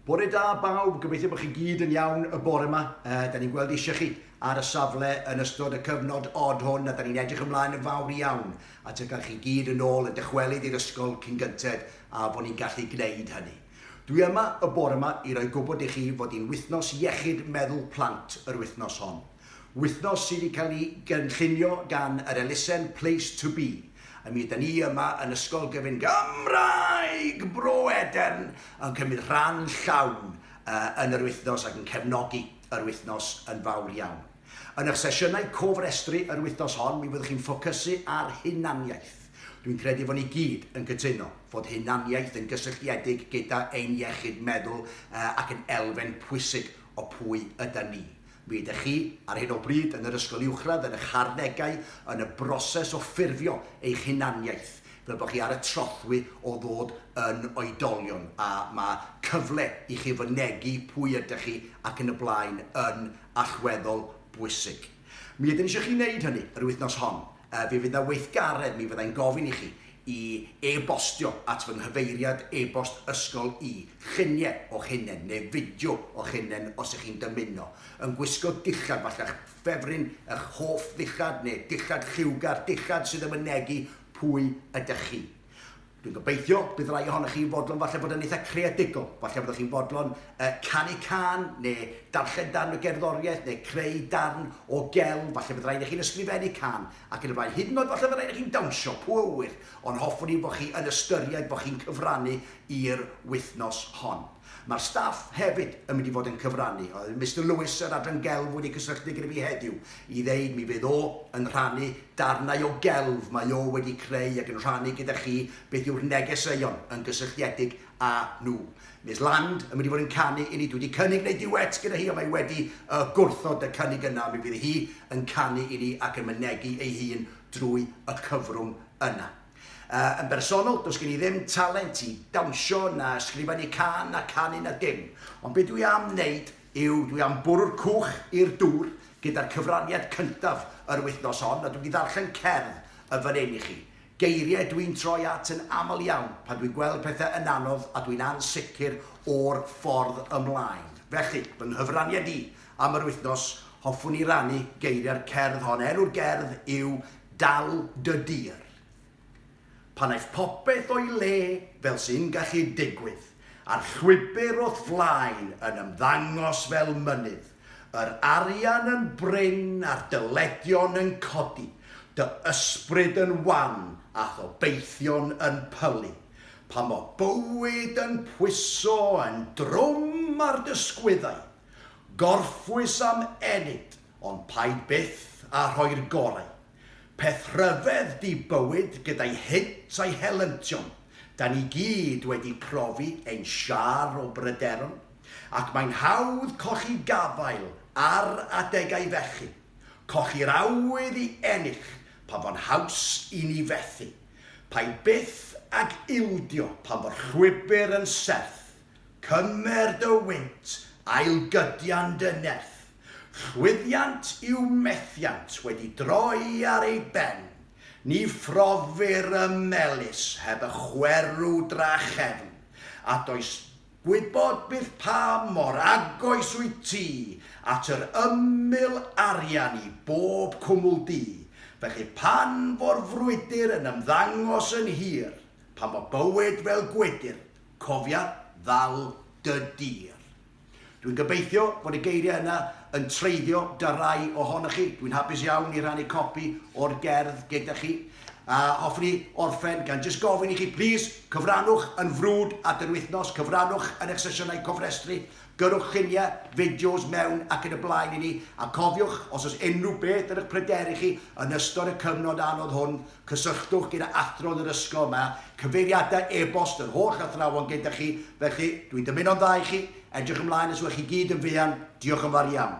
Bore da bawb, gobeithio bod chi gyd yn iawn y bore yma. Da ni'n gweld eisiau chi ar y safle yn ystod y cyfnod od hwn a da ni'n edrych ymlaen yn fawr iawn at y cael chi gyd yn ôl yn dychwelyd i'r ysgol cyn gynted a bod ni'n gallu gwneud hynny. Dwi yma y bore yma i roi gwybod i chi fod hi'n wythnos iechyd meddwl plant yr wythnos hon. Wythnos sydd wedi cael ei gynllunio gan yr elusen Place to Be. A mi ydan ni yma yn Ysgol Gyfun Gymraeg Bro Edern yn cymryd rhan llawn yn yr wythnos ac yn cefnogi yr wythnos yn fawr iawn. Yn eich sesiynau cofrestru yr wythnos hon mi fyddwch chi'n ffocysu ar hunaniaeth. Dwi'n credu fod ni gyd yn cytuno fod hunaniaeth yn gysylltiedig gyda ein iechyd meddwl ac yn elfen pwysig o pwy ydan ni. Mi ydych chi, ar hyn o bryd, yn yr ysgol uwchradd, yn eich harddegau, yn y broses o ffurfio eich hunaniaeth, fel bod chi ar y trothwy o ddod yn oedolion, a mae cyfle i chi fynegi pwy ydych chi ac yn y blaen yn allweddol bwysig. Mi ydym eisiau chi wneud hynny yr wythnos hon. Yy, fe fydd 'na weithgaredd, mi fydda i'n gofyn i chi i e-bostio at fy nghyfeiriad e-bost ysgol i, llunie o'ch hunen neu fideo o'ch hunen os 'ych chi'n dymuno, yn gwisgo dillad, falla'ch ffefryn, 'ych hoff ddillad neu dillad lliwgar, dillad sydd yn mynegi pwy ydych chi. Dwi'n gobeithio bydd rai ohonoch chi yn fodlon falle bod yn eitha' creadigol, falle fyddwch chi'n fodlon yy canu cân, neu darllen darn o gerddoriaeth, neu creu darn o gelf, falle bydd rhaid i chi'n ysgrifennu cân, ac yn y blaen. Hyd yn oed falle bydd rhaid i chi'n dawnsio, pwy a ŵyr, ond hoffwn i bod chi yn ystyried bod chi'n cyfrannu i'r wythnos hon. Mae'r staff hefyd yn mynd i fod yn cyfrannu. Oedd Mister Lewis, yr Adran Gelf, wedi cysylltu gyda fi heddiw i ddeud mi fydd o yn rhannu darnau o gelf mae o wedi creu ac yn rhannu gyda chi beth yw'r negeseuon yn gysylltiedig â nhw. Miss Land yn mynd i fod yn canu i ni. Dwi wedi cynnig wneud duet gyda hi ond mae wedi yy gwrthod y cynnig yna. Mi fydd hi yn canu i ni ac yn mynegi ei hun drwy y cyfrwng yna. Yn bersonol, does gen i ddim talent i dawnsio na ysgrifennu cân na canu na dim, ond be dwi am wneud yw dwi am bwrw'r cwch i'r dŵr gyda'r cyfraniad cyntaf yr wythnos hon a dwi wedi ddarllen cerdd yn fan hyn i chi. Geiriau dwi'n troi at yn aml iawn pan dwi'n gweld pethau yn anodd a dwi'n ansicr o'r ffordd ymlaen. Felly, fy nghyfraniad i am yr wythnos, hoffwn i rannu geiriau'r cerdd hon. Enw'r gerdd yw Dal dy dir. Pan aeth popeth o'i le, fel sy'n gallu digwydd, a'r llwybr o'th flaen yn ymddangos fel mynydd, yr arian yn brin a'r dyledion yn codi, dy ysbryd yn wan a'th obeithion yn pylu, pan fo bywyd yn pwyso yn drwm ar dy sgwyddau, gorffwys am ennyd, Ond paid byth â rhoi'r gorau. Peth rhyfedd 'di bywyd gyda'i hynt a'i helyntion. Da ni gyd wedi profi ein siâr o bryderon, ac mae'n hawdd colli gafael ar adegau felly. Colli'r awydd i ennill pan fo'n haws i ni fethu. Paid byth ag ildio pan fo'r llwybr yn serth. Cymer dy wynt, ailgydian dy nerth. Llwyddiant yw methiant wedi droi ar ei ben. Ni phrofir y melys heb y chwerw drachefn, a does gwybod byth pa mor agos wyt ti at yr ymyl arian i bob cwmwl du. Felly pan fo'r frwydr yn ymddangos yn hir, pan fo bywyd fel gwydr, Cofia ddal dy dir. Dwi'n gobeithio fod y geiriau yna yn treiddio 'da rai ohonoch chi. Dwi'n hapus iawn i rannu copi o'r gerdd gyda chi. A hoffwn i orffen gan jyst gofyn i chi, plîs, cyfrannwch yn frwd at yr wythnos, cyfrannwch yn eich sesiynau cofrestru, Gyrrwch lluniau, fideos mewn ac yn y blaen i ni, a cofiwch, os oes unrhyw beth yn eich pryderu chi yn ystod y cyfnod anodd hwn, cysylltwch gyda athro'n yr ysgol, mae cyfeiriadau e-bost yr holl athrawon gyda chi, felly, dwi'n dymuno'n dda i chi, edrych ymlaen os yw'ch chi gyd yn fuan, diolch yn fawr iawn.